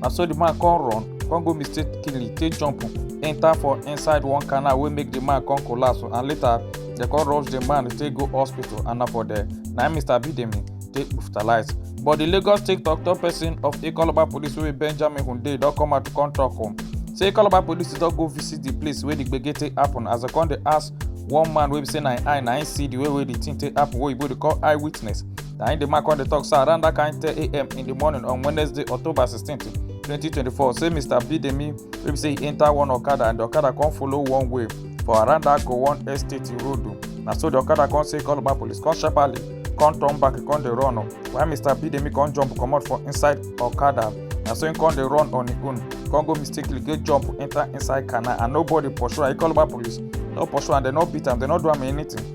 na so the man come run come go mistakenly take jump enter for inside one canal wey make the man come collapse and later dem come rush the man take go hospital and na for there na im mr bidemi take hospitalize but the lagos state tok-tok person of ikoloba police wey be benjamin hunde don come out to come tok um, say ikoloba police don go visit the place wey the gbege take happen as dem come dey ask one man wey be say na im eye na im see the way wey the thing take happen wey oyibo dey call eye witness na im di man come dey tok say around dat kain 10am in di morning on wednesday october 16 2024 say mr bidemi wey be say e enta one okada and di okada come follow one way for around dat gowon estate road na so di okada come say call about police come sharparly come turn back e come dey run o while mr bidemi come jump comot for inside okada na so im come dey run on im own come go mistakenly go jump enta inside canal and nobody pursue am e call about police no pursue am dem no beat am dem no do am anything.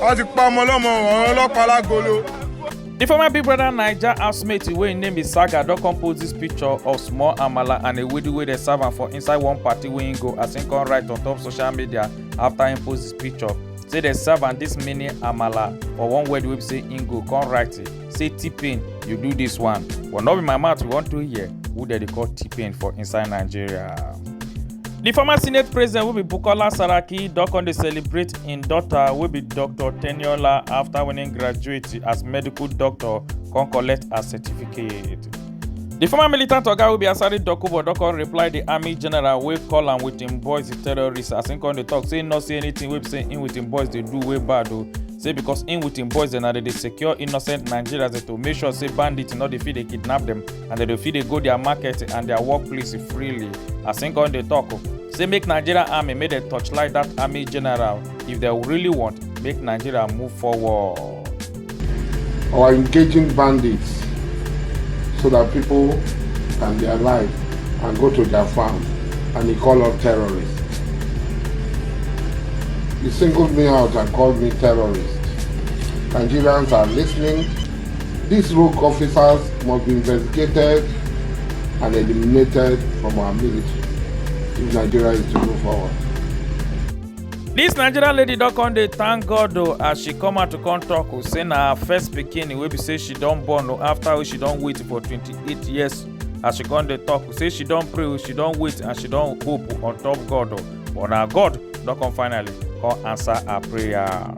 wọ́n ti pa ọmọ ọlọ́mọ ọ̀rọ̀ ọlọ́pàá lágolo. The former Big Brother Naija housemate wey im name is Saga don come post this picture of small amala and ewedu wey dey serve am for inside one party wey im go as im come write on top social media after im post this picture say dem serve am this mini amala for one wedding wey be say im go come write it. say t-pain you do this one but no be my mouth you want to hear who dem dey call t-pain for inside nigeria. di former senate president wey be bukola saraki don come dey celebrate im daughter wey be dr teniola afta winning graduate as medical doctor come collect her certificate. di former militant oga wey be asari dokubo don come reply di army general wey call am wit im boys terrorists as im come dey tok say im no see anytin wey be say im wit im boys dey do wey bad o. say because im with im boys dem na dey dey secure innocent nigerians dem to make sure say bandits no dey fit dey kidnap dem and dem dey fit dey go their market and their workplace freely as im come dey tok say make nigerian army make dem torchlight dat army general if dem really want make nigeria move forward. or engaging bandits so that people can be alive and go to their farm and he call us terrorists. You singled me out and called me terrorist. Nigerians are listening. These rogue officers must be investigated and eliminated from our military if Nigeria is to move forward. This Nigerian lady don come dey thank God o as she come out to come talk o say na her first pikin wey be say she don born o after wey she don wait for twenty-eight years as she come dey talk say she don pray she don wait and she don hope on top god but na god don come finally come answer her prayer.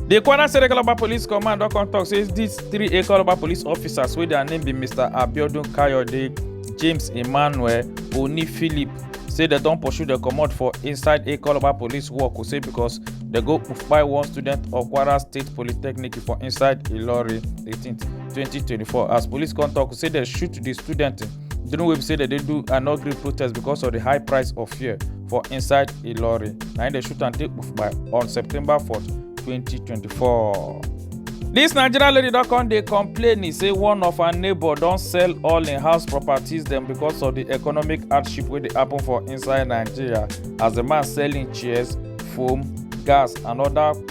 di kwara state ekoloba police command don come tok say dis three ekoloba police officers wey dia name be mr abiodun kayode james emmanuel oni philip say dem don pursue dem comot for inside ekoloba police work say because dem go kpai one student of kwara state polytechnic for inside ilorin 18th 2024 as police come tok say dem shoot di student during wey be say dem dey do an ugly protest because of di high price of fuel for inside ilorin na im dem shoot am take kpufuma on september 4 2024. dis nigerian lady don come dey complain e say one of her neighbour don sell all im house properties dem because of di economic hardship wey dey happen for inside nigeria as di man sell im chairs foam gas and oda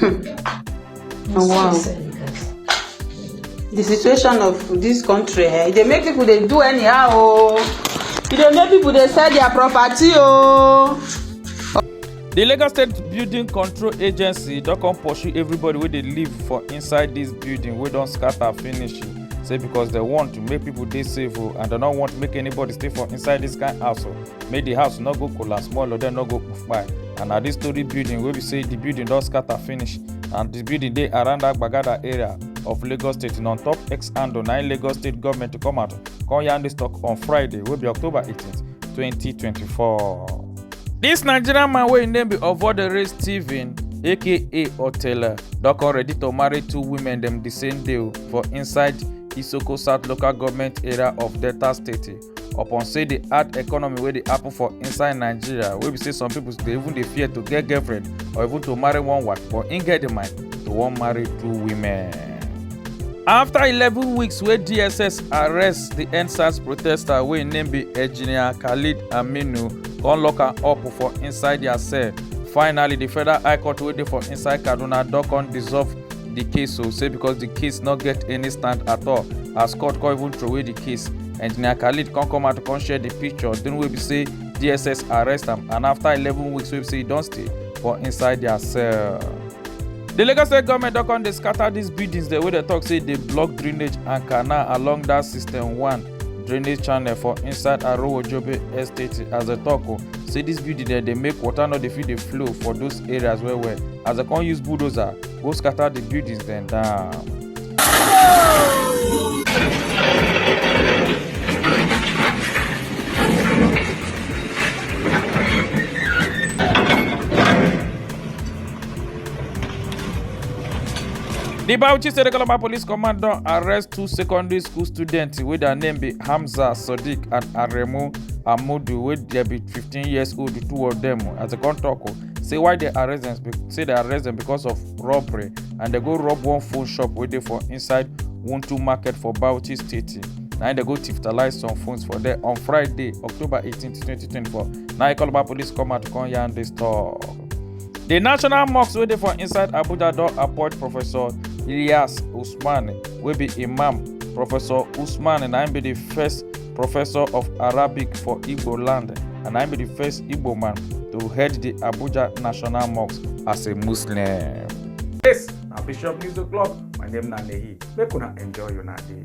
Hmm. Oh, wow. The situation of this country, eh, they make people they do anyhow. Oh. E dey make people they sell their property. Oh. The Lagos State Building Control Agency don come pursue everybody wey dey live for inside this building wey don scatter finish say because they want to make people dey safe o oh, and they no want make anybody stay for inside this kind house o. Oh. make the house no go collapse more or dem no go kpai and na this story building wey be say the building don scatter finish and the building dey around that gbagada area of lagos state and on top x handle na lagos state government come out come yarn this talk on friday wey be october 18 2024. This nigerian man wey im name be ovodere stephen aka otele don come ready to marry two women dem the same day for inside isoko south local government area of delta state upon say the hard economy wey dey happen for inside nigeria wey be say some people dey even dey fear to get girlfriend or even to marry one wife but im get the mind to wan marry two women. after eleven weeks wey dss arrest the endsars protester wey im name be engineer khalid aminu come lock am up for inside their cell finally the federal high court wey dey for inside kaduna don come dissolve the case o say because the case no get any stand at all as court come even throway the case engineer khalid come come out come share the picture during wey be say dss arrest am and after eleven weeks wey be say e don stay for inside their cell. The Lagos state government don come dey scatter these buildings dem wey dey talk say dey block drainage and canal along that system one drainage channel for inside Arowojobe estate as dem talk o say these buildings dem dey make water no dey fit dey flow for those areas well well as dem come use bulldozer go scatter the buildings dem down. The Bauchi State Economic Police Command don arrest two secondary school students wey their name be Hamza Sadiq and Aremu Amudu wey dey be 15 years old, the two of them as they come talk. say why they arrest them? say they arrest them because of robbery and they go rob one phone shop wey dey for inside wuntu market for bauchi state na they go tifitalize some phones for there on friday october 18 2024 na ikoloba police come out come yarn dis tok di national mosque wey dey for inside abuja don appoint professor ilyas usman wey be imam professor usman na im be di first professor of Arabic for Igbo land, and I be the first Igbo man to head the Abuja National Mosque as a Muslim. Yes, na Bishop News O'Clock. My name na Nehi. Make una enjoy your day.